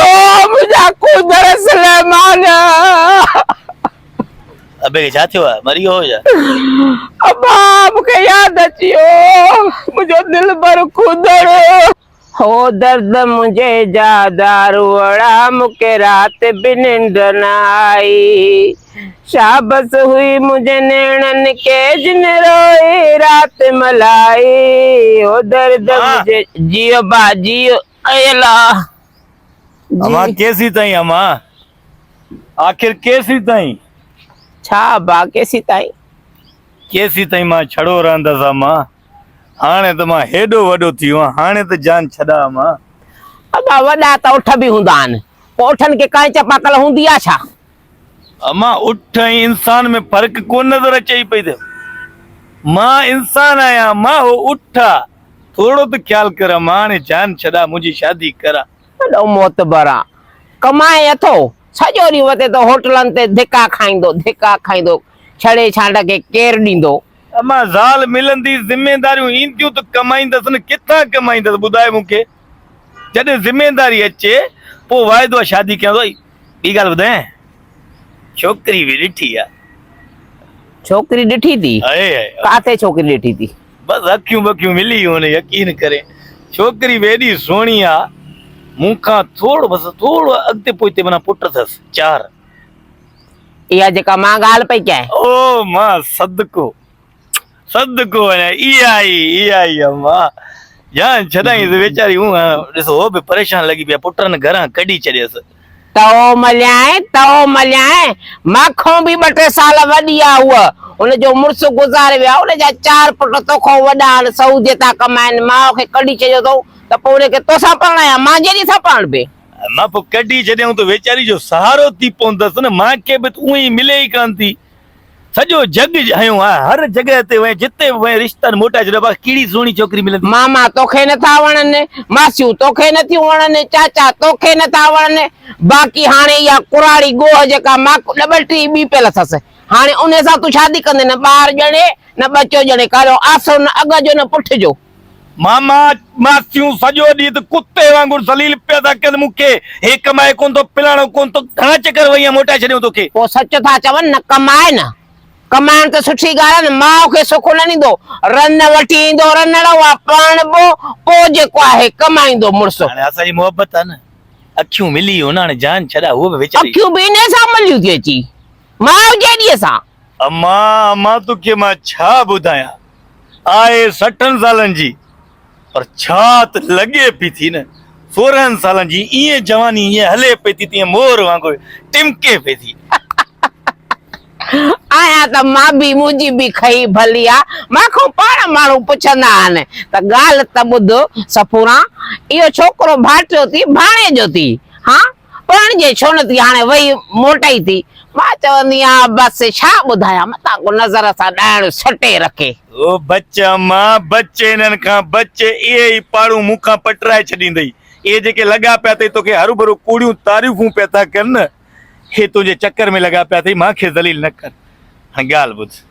او منهنجا قوندر سليمان! ابي کي ڇا ٿيو آهي؟ مري ويو هو ڇا؟ ابا! مون کي ياد اچي ويو منهنجو دلبر قوندر! هو درد منهنجي جا داروڙا مون کي رات به ننڊ نه آئي شابس هئي منهنجي نيڻن کي جن روئي رات ملائي هو درد منهنجي جيو ابا جيو. اي الله جي اما ڪيسي تائين اما آخر ڪيسي تائين ڇا ابا ڪيسي تائين ڪيسي تائين مان ڇڙو رهندس اما هاڻي ته مان هيڏو وڏو ٿي ويو هاڻي ته جان ڇڏا اما ابا وڏا ته اٺ به هوندا آهن پوء اٺن کي ڪانئن چپاڪل هوندي آهي ڇا امان اٺ ۽ انسان ۾ فرق ڪونه نظر اچئي پئي ته مان انسان آهيان امان هو اٺ آ ٿورڙو ته خيال ڪر امان هاڻي جان ڇڏا منهنجي شادي ڪرا. وڏو معتبر آ ڪمائي اٿو سڄو ڏينهن وتي ته هوٽلن تي ڌڪا کائيندو ڌڪا کائيندو ڇڙي ڇانڊ کي ڪير ڏيندو. امان زال ملندي ذميداريون اينديون ته ڪمائيندس نه ڪٿان ڪمائيندس ٻڌاء مون کي. جڏهن ذميداري اچي پوء واعدو آ شادي ڪيان ٿو ٻي ڳالهه ٻڌايان ڇوڪري به ڏٺي آ. ڇوڪري ڏٺي ٿي ڪاٿي ڇوڪري ڏٺي ٿي. بس اکيون بکيون ملي هوني يقين ڪري ڇوڪري به ايڏي سهڻي آ مون کان ٿورو بس ٿورو اڳتي پوئتي منا پٽ اٿس چار. اها جيڪا مان ڳالهه پئي ڪيان. او مان صدقو صدقو وڃان اي آئي اي آئي اما جان ڇڏائين ته ويچاري هون ڏس هو به پريشان لڳي پيا پٽن گهران ڪڍي ڇڏيس. تئو مليائين تئو مليائين مان کون به ٻه ٽي سال وڏي آ هوء هن جو مڙس گذاري ويو آ هن جا چار پٽ تو کون وڏا آهن سعودي ٿا ڪمائين ماء کي ڪڍي ڇڏيو اٿئون ته پوء هن کي تو سان پرڻايان مان جيڏي سان پرڻبي. اما پوء ڪڍي ڇڏيائون ته ويچاري جو سهارو ٿي پوندس نه مان کي به ته اونهي ملي ئي ڪانه ٿي. سڄو جڳ هنيو آ. هر جڳهه تي وئين، جتي به وئين، رشتن موٽائي ڇڏيو آ. باقي ڪهڙي سهڻي ڇوڪري ملندي؟ ماما توکي نٿا وڻن، ماسيون توکي نٿيون وڻن، چاچا توکي نٿا وڻن، باقي هاڻي اها ڪراڙي ڳوهه جيڪا ماڪو ڏٻل ٽي ٻي پيل اٿس، هاڻي انهي سان تون شادي ڪندين؟ نه ٻار ڄڻي، نه ٻچو ڄڻي، ڪا جو آسرو نه اڳ جو نه پٺ جو. ماما ماسيون سڄو ڏينهن ته ڪتي وانگر ذليل پيا ٿا ڪن مون کي، هي ڪمائي ڪونه ٿو فلاڻو ڪونه ٿو، گهڻا چڪر وئينء موٽائي ڇڏيائون توکي. پوء سچ ٿا چون نه ڪمائي نه. ڪمائڻ ته سٺي ڳالهه آهي نه ماء کي سک نه ڏيندو، رن وٺي ايندو رنڙ اها پرڻبو پوء جيڪو آهي ڪمائيندو مڙس. هاڻي اسان جي محبت آهي نه اکيون ملي هن هاڻي جان ڇڏا هوء به ويچاري. اکيون به انهي سان مليون ٿي اچي ماء جيڏيء سان. امان امان توکي مان ڇا ٻڌايان. آء سٺن سالن جي پر ڇا ته لڳي پئي ٿي نه سورهن سالن جي ائين جواني ائين هلي پئي ٿي تيئن مور وانگر ٽمڪي پئي ٿي. آهيان ته مان به منهنجي به کهي ڀلي آ مان کان پاڻ ماڻهو پڇندا آهن ته ڳالهه ته ٻڌ سپوران اهو ڇوڪرو ڀائٽيو ٿي ڀاڻيجو ٿي هان پاڻ جي ڇونه ٿي هاڻي وئي موٽئي ٿي مان چوندي آهيان بس ڇا ٻڌايان متان ڪو نظر سان ڏائڻ سٽي رکي. او بچ اما بچ انهن کان بچ اهي ئي پاڙون مون کان پٽرائي ڇڏيندئي اهي جيڪي لڳا پيا اٿئي توکي هروڀرو ڪوڙيون تعريفون پيا ٿا ڪن اهي تنهنجي چڪر ۾ لڳا پيا اٿئي مان کي ذليل نه ڪر هاڻي ڳالهه ٻڌ.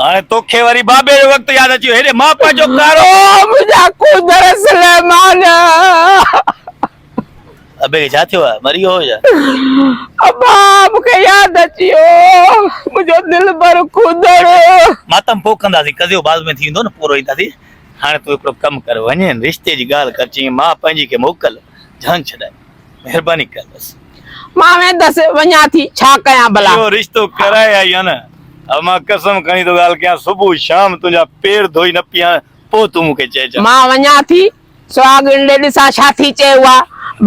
هاڻي توکي وري بابي جو وقت ياد اچي ويو هيڏي مان پنهنجو ڪارو منهنجا ڪوندر سليمان ابي کي ڇا ٿيو آهي مري ويو هو يا ابا مون کي ياد اچي ويو منهنجو دلبر ڪوندر ماتم پوء ڪنداسين قضيو بعد ۾ ٿيندو نه پورو اينداسين هاڻي تون هڪڙو ڪم ڪر وڃين رشتي جي ڳالهه ڪر چيائين مان پنهنجي کي موڪل جان ڇڏائي مهرباني ڪندس. مان ويندس وڃان ٿي ڇا ڪيان ڀلا. اهو رشتو ڪرائي آئي آن ها مان قسم کڻي ٿو ڳالهه ڪيان صبح شام تنهنجا پير ڌوئي نه پيهان پوء تون مون کي چئجان. مان وڃان ٿي سهاڳڻ ڏي ڏسان ڇا ٿي چئي اها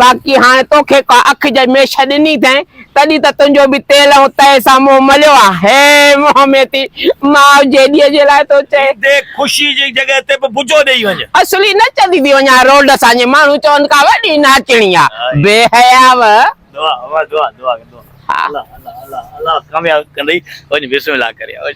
باقي هاڻ توکي ڪا اک جي ميش ڏني اٿئين تڏهن ته تنهنجو به تيل ائين تئي سان منهن مليو آ. هيء منهن ۾ ٿي ماء جيڏيء جي لاء ٿو چئي. ديک خوشيء جي جڳهه تي به بجو ڏيئي وڃ. اصلي نچندي ٿي وڃان روڊ سان جيئن ماڻهو چون ڪا وڏي ناچڻي آ. بي حياء. دعا دعا دعا دعا دعا الله الله الله الله ڪامياب ڪندئي وڃ بسم الله ڪري وڃ.